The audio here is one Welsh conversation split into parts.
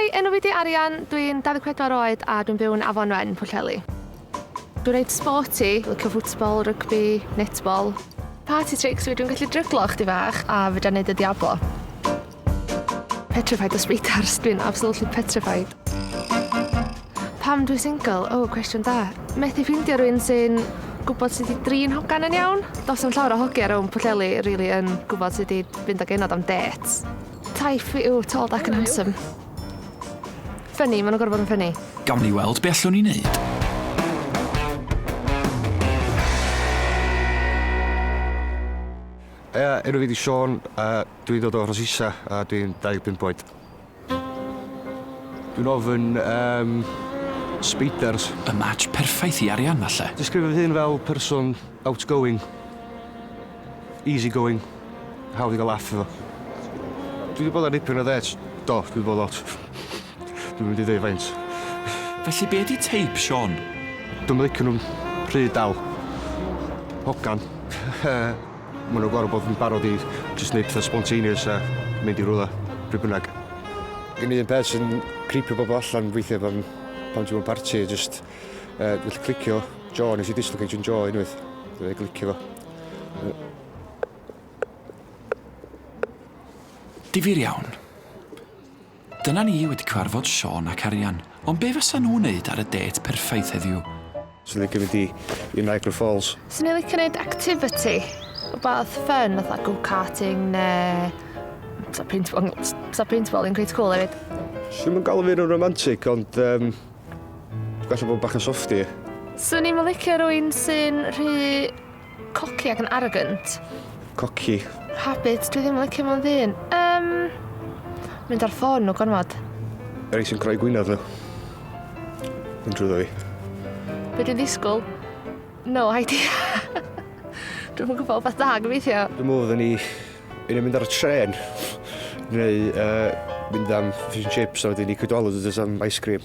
Hi, enw fi di Arian, dwi'n 24 oed a dwi'n byw yn Afon Wen, Pwllheli. Dwi'n reit sporty, licio ffwtsbol, rygbi, netbol. Party tricks fi, dwi'n gallu dryglo chdi fach a fedra neud y diablo. Petrified o spiders, dwi'n absolutely petrified. Pam dwi single? O, oh, cwestiwn da. Methu ffeindio rhywun sy'n gwybod sut i drin hogan yn iawn. Dos am llawer o hogia rhwng Pwllheli really yn gwybod sut i fynd ag enod am dates. Taif fi yw tall, dark and handsome. Ffynnu, maen nhw'n gorfod bod yn ffynnu. Gawn ni weld be allwn ni wneud. Ia, enw fi di Sean, uh, Dwi'n dod o Rhosysa a dwi'n 25 oed. Dwi'n ofyn am speiders. Y match perffaith i Arianna 'lle. Disgrifio fy hun fel person outgoing, easy going, hawdd i gael laff efo. Dwi 'di bod ar dipyn o ddêts, do, dwi 'di bod lot. Dwi'm yn mynd i ddeud faint. Felly be 'di teip Siôn? Dwi'm yn licio nhw'n rhy dal. Hogan. Maen nhw'n gorfod bod yn barod i jyst wneud pethau spontaneous a mynd i rywle, pryd bynnag. Gen i un peth sy'n creepio bobl allan weithiau pan, pan ti'n mewn parti, jyst uh, gallu clicio jaw, nes i dislocate yn jaw unwaith, dwi'n clicio fo. Difyr iawn. Dyna ni wedi cyfarfod Siôn ac Arian, ond be fasa nhw'n neud ar y dêt perffaith heddiw? Swn i'n licio mynd i i Niagara Falls. Swn i'n licio neud activity, wbath fun fatha go karting ne t'o paintball t- sa paintball yn cweit cwl efyd. Swn i'm yn galw fy hun yn romantic ond yym gwella bod bach yn softie. Swn i'm yn licio rywun sy'n rhy Cocky ac yn arrogant. Cocky. Habit, dwi ddim yn licio mewn ddyn. Um, mynd ar ffôn nhw gormod. Yr ei sy'n creu gwynaf nhw. Yn drwyddo fi. Be dwi'n ddisgwyl? No idea. dwi'n yn gwybod beth da gyfeithio. Dwi'n mwyn fydden ni yn mynd ar y tren. Neu uh, mynd am fish and chips a wedyn ni cydwalwyd ydys am ice cream.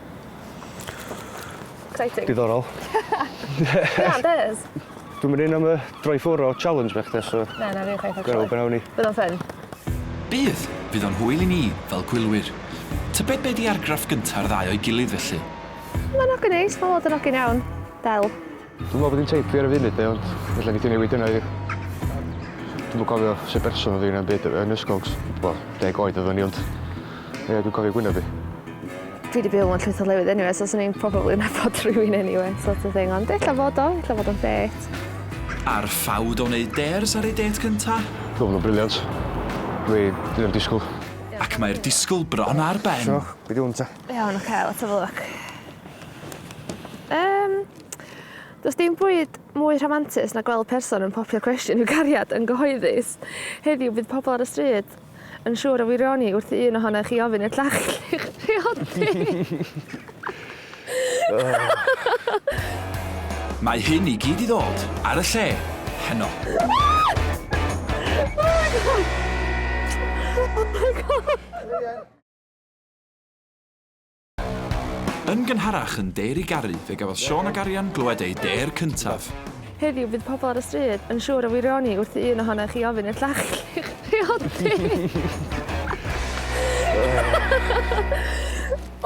Exciting. Diddorol. Na, ond ês. Dwi'm yn un am y droi ffwr o challenge bach de, so... Na, na fi chwaith actually. Gwel be' nawn ni. Bydd o'n ffyn. Bydd! Fydd o'n hwyl i ni, fel gwylwyr. Tybed be' 'di argraff gynta'r ddau o'i gilydd felly? Ma'n ogyn neis, ma' lot yn ogyn iawn. Del. Dwi'm yn gwybod be dwi'n teipio ar y funud de ond ella nei di newid hynna i fi. Dwi'm yn cofio sut berson oedd hi na'm byd yn ysgol cos wel deg oed oeddwn i ond ie dwi'n cofio gwyneb hi. Dwi 'di byw mewn llwyth o lefydd eniwe so swn i'n probably nabod rhywun eniwe sort of thing ond ella fod o ella fod o'n ffêt. Ar ffawd o wneud dares ar ei dêt cynta? Roedd nhw'n briliant. Dwi ddim yn disgwyl. Ac mae'r disgwyl bron ar ben. Shwmae, be di hwn ta? Iawn, oce, let's have a look. Yym. Does dim bwyd mwy rhamantus na gweld person yn popio cwestiwn i'w gariad yn gyhoeddus. Heddiw bydd pobl ar y stryd yn siŵr o wirioni wrth i un ohonoch chi ofyn i'r llall eich priodi. Mae hyn i gyd i ddod ar y lle heno. Oh my God! Yn gynharach yn Dêr i Garu fe gafodd Siôn ac Arian glywed eu dêr cyntaf. Heddiw bydd pobl ar y stryd yn siŵr o wirioni wrth i un ohonoch chi ofyn i'r llall i'ch priodi!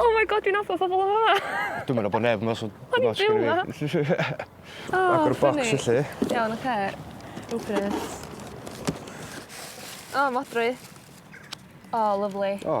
Oh my God dwi'n nabod pobl yn fama! Dwi'm yn nabod neb 'ma so... O'n i'n byw 'ma! Agor y bocs felly. Iawn oce. Open it. O modry. O lyfli. O.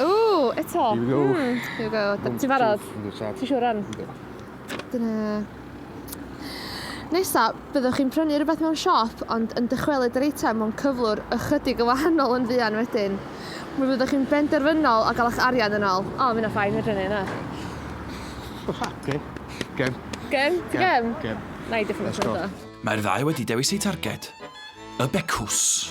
Ooh, eto. Here we go. Mm, here we go. Ti'n barod? Ti'n siŵr rhan? Dyna... Nesa, byddwch chi'n prynu rhywbeth mewn siop, ond yn dychwelyd yr eitem mewn cyflwr ychydig yn wahanol yn fuan wedyn. Mi fyddwch chi'n benderfynol o gael eich arian yn ôl. O, mi'n o ffain, fedrwn ni, na. Gem. Gem. Gem? Gem? Gem. Na i diffyg Mae'r ddau wedi dewis eu targed. Y becws.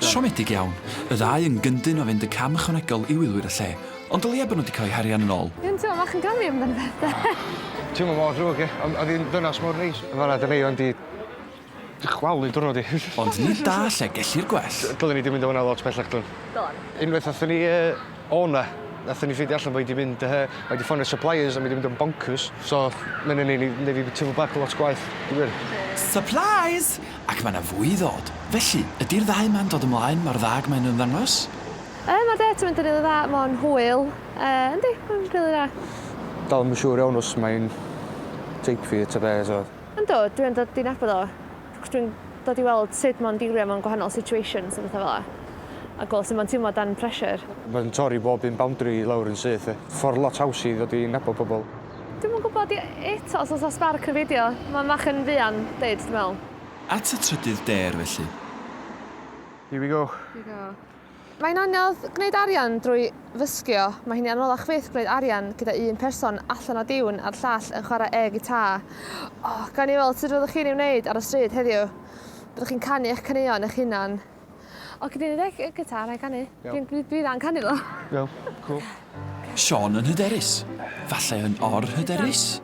Siomedig iawn, y ddau yn gyndyn o fynd y cam ychwanegol i wylwyr y lle, ond o leia bod nhw wedi cael eu harian yn ol. Dim teimlo bach yn gummy amdano fe de? Teimlo mor ddrwg ie? Ond o'dd hi'n ddynas mor neis. Fel arfer y rei o'n di Dychwalu diwrnod i. Ond nid da lle gellir gwell. Dylen ni di mynd o hwnna lot pellach dwn. Don. Unwaith nathon ni yy o na nathon ni ffeindio allan bo' i di mynd yy o i di ffonio suppliers a ma' i di mynd yn boncyrs so ma' wnna'n neu' ni neu' fi b- teimlo bach lot gwaeth dwi wir. Supplies! Ac ma' na fwy i ddod. Felly, ydi'r ddau ma'n dod ymlaen mor dda ag mae nhw ymddangos? Yy ma' det yn mynd yn rili dda mo'n hwyl yy yndi ma'n rili dda. Dal 'im yn siŵr iawn os mae'n tape fi ta be' so. Yndw, dwi yn dod i nabod o, cos dwi'n dod i weld sut mae'n dilio mewn gwahanol situations a pethau fel 'na, a gweld sut mae'n teimlo dan pressure. Mae'n torri bob un boundary i lawr yn syth. Ffordd lot haws i ddod i nabod pobl. Dwi'm yn gwybod i- eto os oes 'na sbarc yn beidio. Mae'n fach yn fuan 'fyd, dwi'n meddwl. At y trydydd dêr felly. Here we go. Here we go. Mae'n anodd gwneud arian drwy fysgio, mae hi'n anoddach fyth gwneud arian gyda un person allan o diwn a'r llall yn chwarae air gitar. O, gawn ni weld sut fyddwch chi'n ei wneud ar y stryd heddiw. Byddwch chi'n canu eich caneuon eich hunan. O, gei di wneud eich gitar na i canu? Iawn. Dwi, dwi dda'n canu ddo. Iawn, cŵl. Siôn yn hyderus. Falle yn or-hyderus?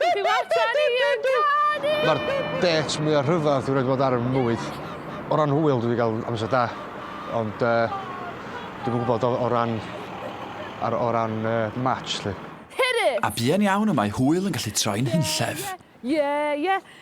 Beth yw atan ni yn canu? Mae'r dates mwyaf rhyfedd dwi'n rhaid bod ar fy mywyd. O ran hwyl dwi wedi cael amser da, ond uh, dwi'n gwybod o, o ran, ar, o ran uh, match lle. A buan iawn y mae hwyl yn gallu troi'n hunllef. Ie, ie.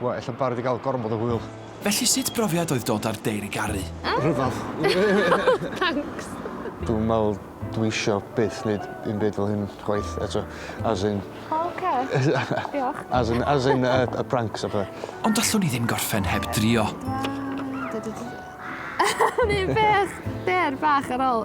Wel, ella barod i gael gormod o hwyl. Felly sut brofiad oedd dod ar Deir i Garu? Rhyfedd. Thanks! Dwi'n meddwl dwi isio byth neud un byd fel hyn chwaith eto. As in... O oce. Diolch. As in as in yy y pranks a pethe. Ond allwn i ddim gorffen heb drio. Dw a dw dw dw. O'n i'n beth? Deir bach ar ol.